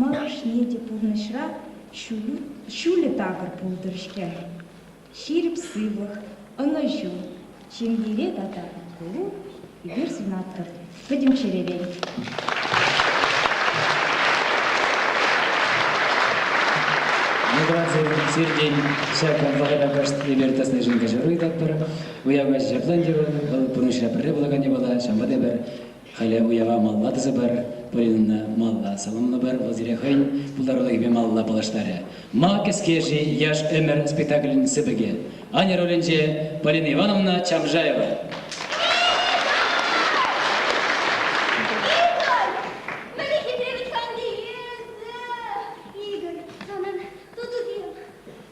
Малашне те пурнӑҫра ҫӳлӗ такӑр пултӑр-ҫке. Ҫирӗп сывлӑх, ӑнӑҫу, ҫемьере тата пулу эпир сунатпӑр пӗтӗм чӗререн. Миграци сиртен ҫак вӑхӑта кӑшт эпир тӑснишӗн кӗҫӗр ыйтатпӑр. Уяв каҫӗ ҫаплан терӗн, вӑл пурнӑҫра пӗрре пулакан япала, ҫавӑнпа та эпир Халӗ уява малалла тӑсӑпӑр. Полинӑна малла саламлӑпӑр. Вӑл сире хӑйӗн пултарулӑхӗпе малалла паллаштарӗ. Ма кӗске-ши яш ӗмӗр спектаклӗн сыпӑкӗ? Аня ролӗнче Полина Ивановна Чамжаева. Мӗнле хитре вӗт-ха ӗнтӗ эсӗ, Игорь, санӑн тутусем!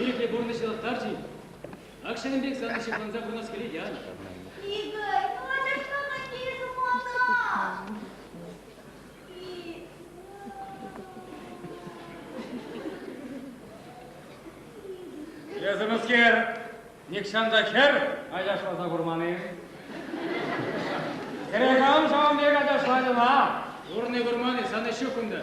Ирӗклӗ пурнӑҫ ӑнлантарчӗ. Ак ҫакӑн пек сана ҫыхланса пурӑнас килет, Яна. Эсӗмӗрскер нихҫан хӗр ачашласа курман-и? Хӗре кам ҫавӑн пек ачашланӑ ма? Курни курман-и, сана ҫук унта.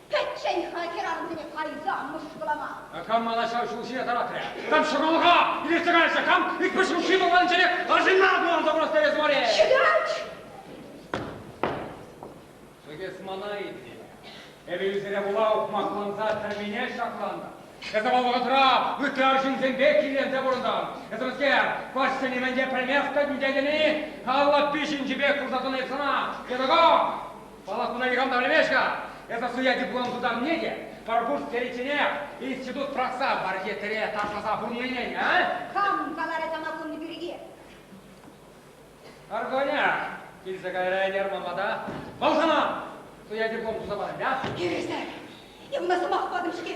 Пӗччен-ха хӗрарӑмсене кайса мӑшкӑлама. Кам мана ҫав ҫул ҫине тӑратрӗ? Кам ҫӑмӑллӑха илсе кайрӗ? Кам икпӗҫ ручки пӑлпанчене арҫынна курӑнса вырасса эс мар-и? Ҫӑкач! Чӗкеҫ мана илнӗ. Эпӗ ӳсӗре пула ухмахланса тӗрмине ҫаклантӑм. Эсӗ вӑл вӑхӑтра ытти арҫынсемпе килленсе пурӑнтӑн. Эсӗмскер, каҫсене мӗн те пӗлмех тетӗн тетӗн-и? Аллаппи ҫинчи пек курса тӑнӑ эп сана, Ҫатӑка! Палӑртнине никам та пӗлмест-ха. Эсӗ суя диплом тутарнине те пӗр курс теричченех институт пӑрахса бархетре ташласа пурнине, а? Хам каларӗ тамакунни пирки. Арконя, килсе кайра ӗнер мамада. Вӑл хана! Суя диплом туса парать, а? Ирӗсне! Эпӗ сӑмах патӑм-ҫке.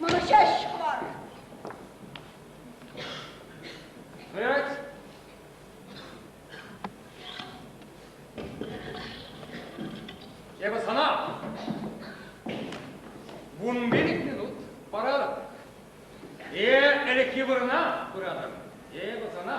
Манӑҫаҫҫӗ мар. Вырать. Эпӗ сана вун пилӗк минут паратӑп. Е ӗлӗкхи вырӑна пыратӑп. Эпӗ сана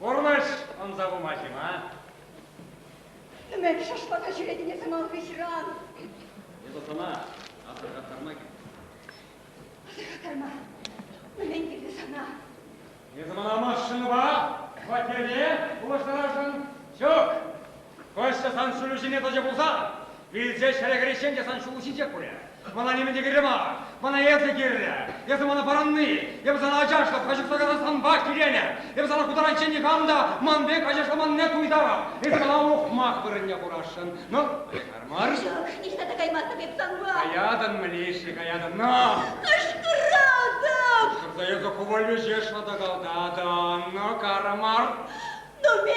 Курнӑҫ ӑнса пыма ҫина. Ӗмӗр шашлака ҫӳретӗн эсӗ ман хыҫран. Эсӗ сана асӑрхаттарма килнӗ. Асӑрхаттарма. Мӗнлен килнӗ сана? Эсӗ мана машинӑпа хваттере улӑштарасшӑн ҫук. Кӑшт сан ҫулу ҫине тӑчӗ пулсан, вилсе ҫӗре кӗриччен те сан ҫулу ҫинче курӗ. Мана нимӗн те кирлӗ мар. Мана эсӗ кирлӗ. Эсӗ мана парӑнни, эпӗ сана ачашлӑх, каҫӑхса касассанпах киленӗ. Эпӗ сана хутаранччен никам та ман пек ачашламанне туйтарам. Эсӗ мана ухмах вырӑнне хурасшӑн. Ну, каяр мар. Ҫук, ниҫта та каймастӑп эп санпа. Каятӑн, Милиша, каятӑн. На! Кӑшкӑратӑп! Кӑшкӑрса эсӗ хӑвалӳҫе шӑтӑкалтатӑн. Ну, карӑ мар. Ну, ме!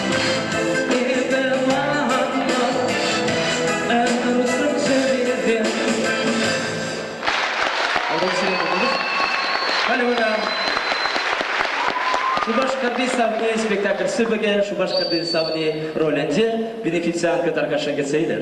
Шупашкарти савни спектакль сыпӑкӗ Шупашкарти савни ролӗнче бенефициантка таркаша кӗтсе илер.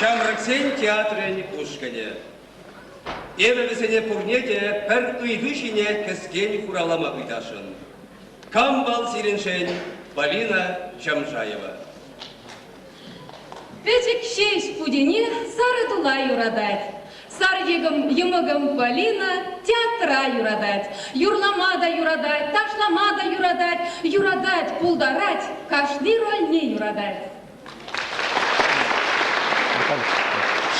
Ҫамрӑксен театрӗн ушкӑнӗ. Эпӗ вӗсене пурне те пӗр ыйту ҫине кӗскен хуравлама ыйтасшӑн. Кам вӑл сирӗншӗн, Полина Джамжаева? Пӗчӗк ҫеҫ Путене сарӑ тула юратать. Сар йӑмӑкӑм Полина театра юратать. Юрлама та юратать, ташлама та юратать, юратать, пултарать, кашни рольне юратать.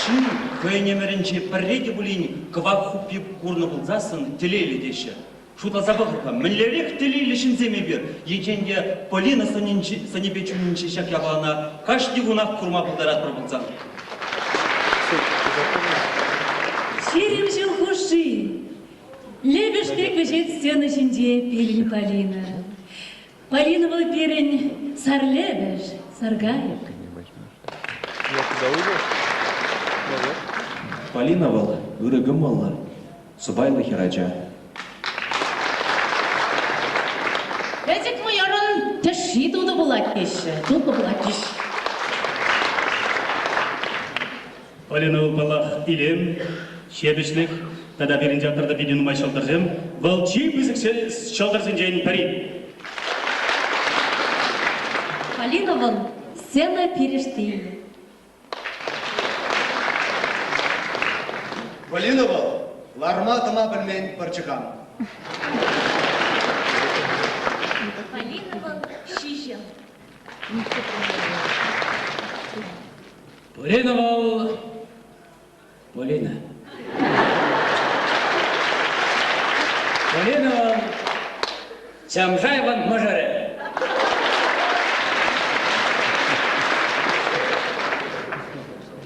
Ҫын хӑйӗн ӗмӗрӗнче пӗрре те пулин кӑвак хуппи курнӑ пулсассӑн телейлӗ теҫҫӗ. Шутласа пӑхӑр-ха, мӗнлерех телейлӗ ҫынсем эпир! Енчен те Полина сӑнӗпе чунӗнчи ҫак япалана кашни кунах курма пултаратпӑр пулсан. Ҫирӗм ҫул хушши лепеш пек вӗҫет стена ҫинче пирӗн Полина. Полина вӑл пирӗн сар лепеш, сар кайӑк. Полина вӑл ырӑ кӑмӑллӑ, сӑпайлӑ хӗрача. Пӗчӗк вӑйӑрӑн тӗшши тутӑ пулать теҫҫӗ, тутӑ пулатчӗҫ. Полина ывӑлпаллах илем, ҫепӗҫлӗх тата пирӗн театрта питӗ нумай ҫӑлтӑрсем, вӑл чи пысӑк ҫӑлтӑрсенчен пӗри. Полина вӑл, сцена перешти-и. Валина вӑл ларма-тӑма пӗлмен пӑрчӑкан. Полина вӑл ҫиҫӗ. Полина вӑл Полина. Полина Чамжаеван мӑшӑрӗ.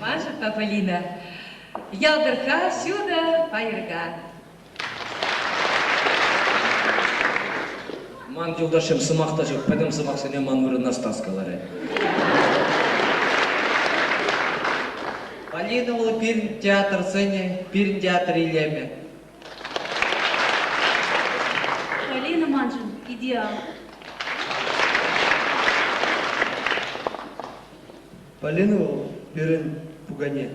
Маша Полина. Ялтӑрка, ҫутӑ, пайӑрка. Ман юлташӑм сӑмах та ҫук, пӗтӗм сӑмахсене ман вырӑна Стас каларӗ. Полина вӑл пирӗн театрсене, пирӗн театр илемӗ. Полина маншӑн идеал. Полина вӑл пирӗн пукане.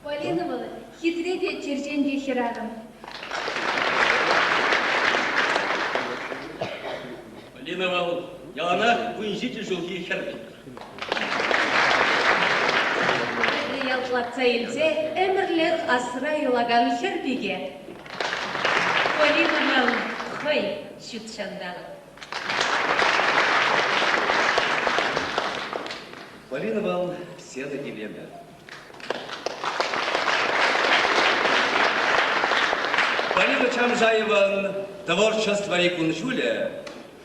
Полина вӑл хитре те черченкӗ хӗрарӑм. Полина вӑл яланах вунҫичӗ ҫулхи хӗр. ялтлатса илсе ӗмӗрлӗх асра юлакан хӗр пике. Полинӑна хӑй ҫут ҫанталӑк. Полина Ивановна, седа килемӗ. Полина Чамжаеван творчествӑри кун-ҫулӗ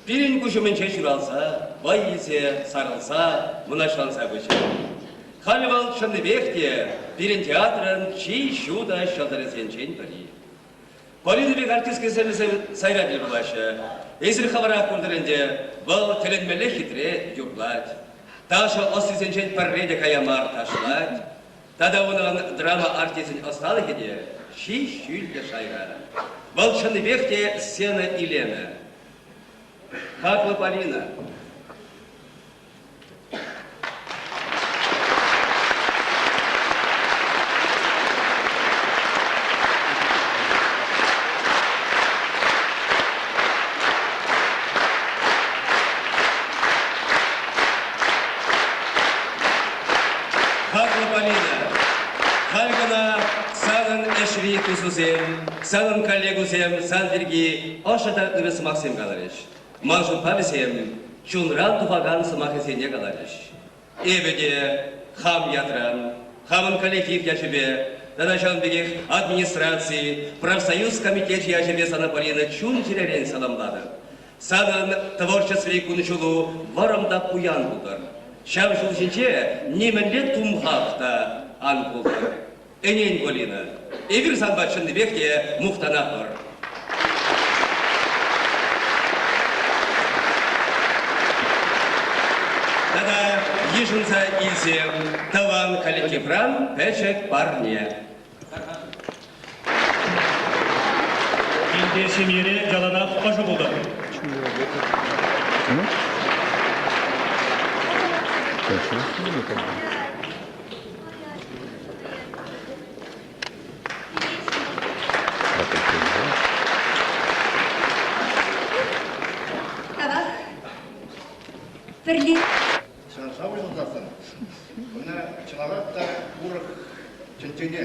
пирӗн куҫ умӗнче ҫуралса, вӑй илсе, сарӑлса, мӑнаҫланса пычӗ. Халӗ вӑл чӑннипех те пирӗн театрӑн чи ҫутӑ ҫӑлтӑрӗсенчен пӗри. Полина пек артист кӗселӗсем сайра тӗл пулаҫҫӗ. Эсир хӑвӑра куртӑр ӗнтӗ, вӑл тӗлӗнмелле хитре юрлать. Ташӑ ӑстисенчен пӗрре те кая мар ташлать. Тата унӑн драма артисчӗн ӑсталӑхӗ те чи ҫӳллӗ шайра. Вӑл чӑннипех те сцена илемӗ. Хаклӑ Полина! Хаклӑ Полина, халь кӑна санӑн ӗҫри тусусем, санӑн коллегусем сан пирки ӑшӑ та ырӑ сӑмахсем каларӗҫ. Ман шутпа вӗсем чунран тухакан сӑмахӗсене каларӗҫ. Эпӗ те хам ятран, хамӑн коллектив ячӗпе тата ҫавӑн пекех администраци, профсоюз комитечӗ ячӗпе сана Полина чун-чӗререн саламлатӑп. Санӑн творчествӑри кун-ҫулу вӑрӑм та пуян пултӑр. Ҫав ҫул ҫинче нимӗнле тумхах та ан пултӑр. Ӗнен, Полина, эпир санпа чӑннипех те мухтанатпӑр. Тата йышӑнса илсе тӑван коллективран пӗчӗк парне. Пинте ҫемьере яланах ӑшӑ пултӑр. Хорошо. Пӗрле. Ҫавна шав уҫӑлсассӑн, ӑна чӑнарах та урӑх чӗнчене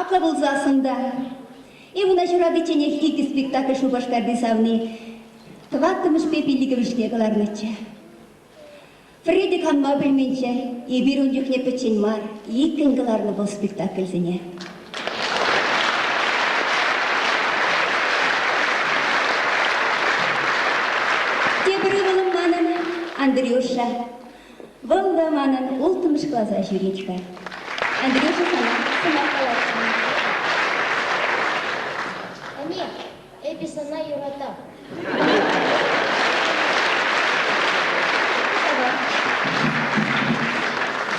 Апла пулсассӑн та Ивана ҫуратичченех икӗ спектакль Шупашкарти савни тӑваттӑмӗшпе пиллӗкӗмӗшне кӑларнӑччӗ. Фредди канма пӗлменчче эпир ун чухне пӗччен мар иккӗн кӑларнӑ вӑл спектакльсене. Тепӗр ывӑлӑм манӑн Андрюша Вӑл та манӑн улттӑмӗш класа ҫӳрет-ха. Андрюша сана сӑмах каласшӑн. Ӗне, эпӗ сана юратам.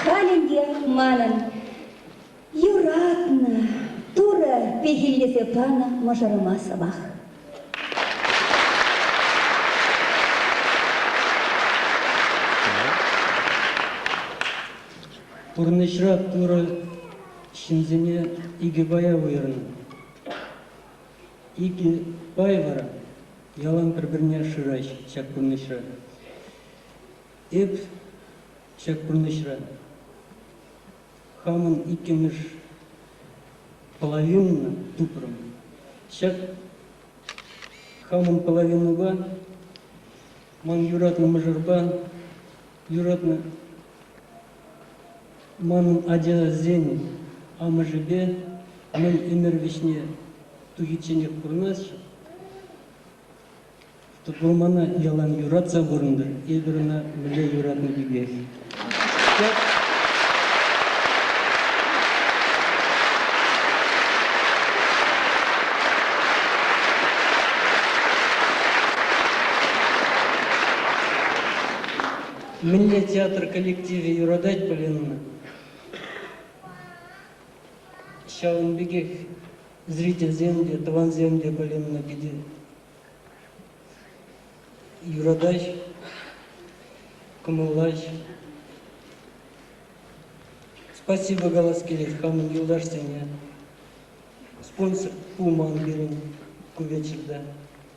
Халь ӗнтӗ манӑн Юратнӑ Турӑ пехиллесе панӑ мӑшӑрӑма сӑмах. Пурнӑҫра Турӑ ҫынсене икӗ пая уйӑрнӑ. Икӗ пай вара ялан пӗр-пӗрне шыраҫҫӗ ҫак пурнӑҫра. Эп ҫак пурнӑҫра хамӑн иккӗмӗш половинӑна тупрӑм. Ҫак хамӑн половинӑпа ман юратнӑ мӑшӑрпа юратнӑ манӑн ачасен амӑшӗпе мӗн ӗмӗр вӗҫне тухичченех пурӑнасчӗ. Вӑл мана ялан юратса пурӑнтӑр. Эпир ӑна мӗнле юратнӑ пекех. Мӗнле театр коллективӗ юратать Полинна? Ҫавӑн пекех зрительсем те, тӑвансем те Полинӑна питӗ юратаҫ, кӑмӑллаҫ. Спасибо калас килет хамӑн юлташсене. Спонсор пулман пирӗн ку вечерта.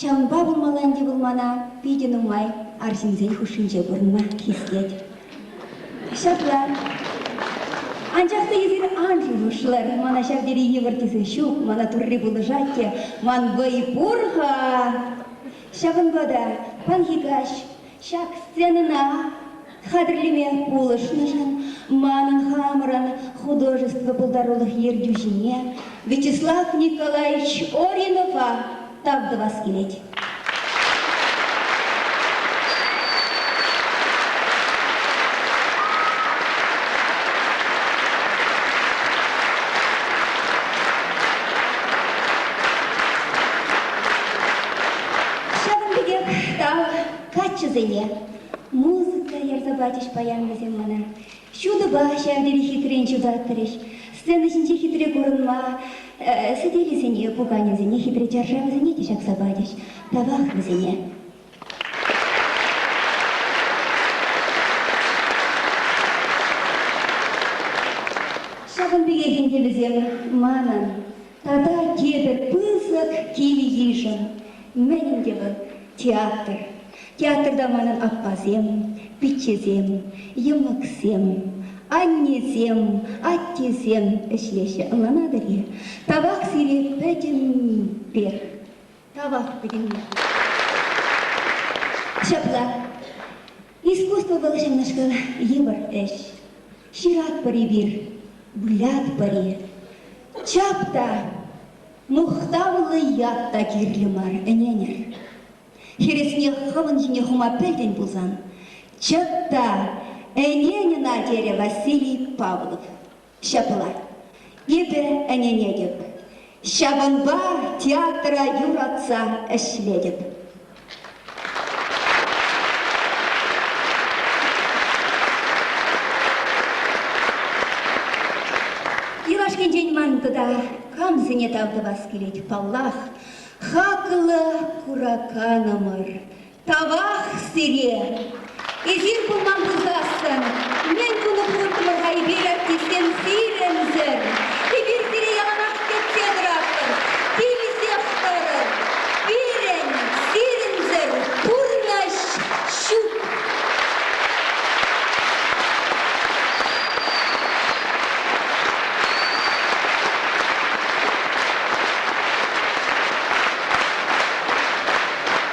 Ҫавӑнпа пулмалла ӗнтӗ вӑл мана питӗ нумай арҫынсен хушшинче курӑнма хистет. Ҫапла. Анчах та эсир ан шухӑшлӑр, мана ҫав тери йывӑр тесе ҫук, мана Турри пулӑшать те, ман вӑй пур-ха. Ҫавӑнпа та паянхи каҫ Ҫак сценӑна хатӗрлеме пулӑшнӑшӑн манӑн хамӑрӑн художество пултарулӑх ертӳҫине Вячеслав Николаевич Оринова тав тӑвас килет. Ҫавӑн пекех ӑста каччӑсене музыка ярса пачӗҫ паян вӗсем мана. Ҫутӑпа ҫав тери хитрен ҫутатрӗҫ. Сцена ҫинче хитре курӑнма э, сӗтелӗсене, пуканесене, хитре чаршавӗсене те ҫакса пачӗҫ. Тавах вӗсене. Ҫавӑн пекех ӗнтӗ вӗсем манӑн Тата эпӗ пысӑк кил-йышӑн мӗн те театр. Театрта манӑн аппасем, пиччесем, йӑмӑксем, аннесем, аттесем ӗҫлеҫҫӗ. Ӑнланатӑр-и? Тавах сире пӗтӗмпех. Право пӗтӗмне. Ҫапла. Искусство вӑл ҫыннӑшкӑн йывӑр ӗҫ. Ҫыратпӑр эпир, вылятпӑр-и? Чап та, мухтавлӑ ят та кирлӗ мар, ӗненӗр. Хӗресне хӑвӑн ҫине хума пӗлтӗн пулсан, чӑт та, ӗнен ӑна, терӗ Василий Павлов. Ҫапла, эпӗ ӗненетӗп, ҫавӑнпа театра юратса ӗҫлетӗп. Юлашкинчен ман тата камсене тав тӑвас килет, паллах, хаклӑ кураканӑмӑр Тавах сире! Эсир пулман пулсассӑн, мӗн тунӑ пулӑттӑмӑр-ха эпир артистсем сирӗншӗн? Эпир сире яланах кӗтсе тӑратпӑр, килсех тӑрӑр. Пирӗн, сирӗншӗн пурнӑҫ ҫук.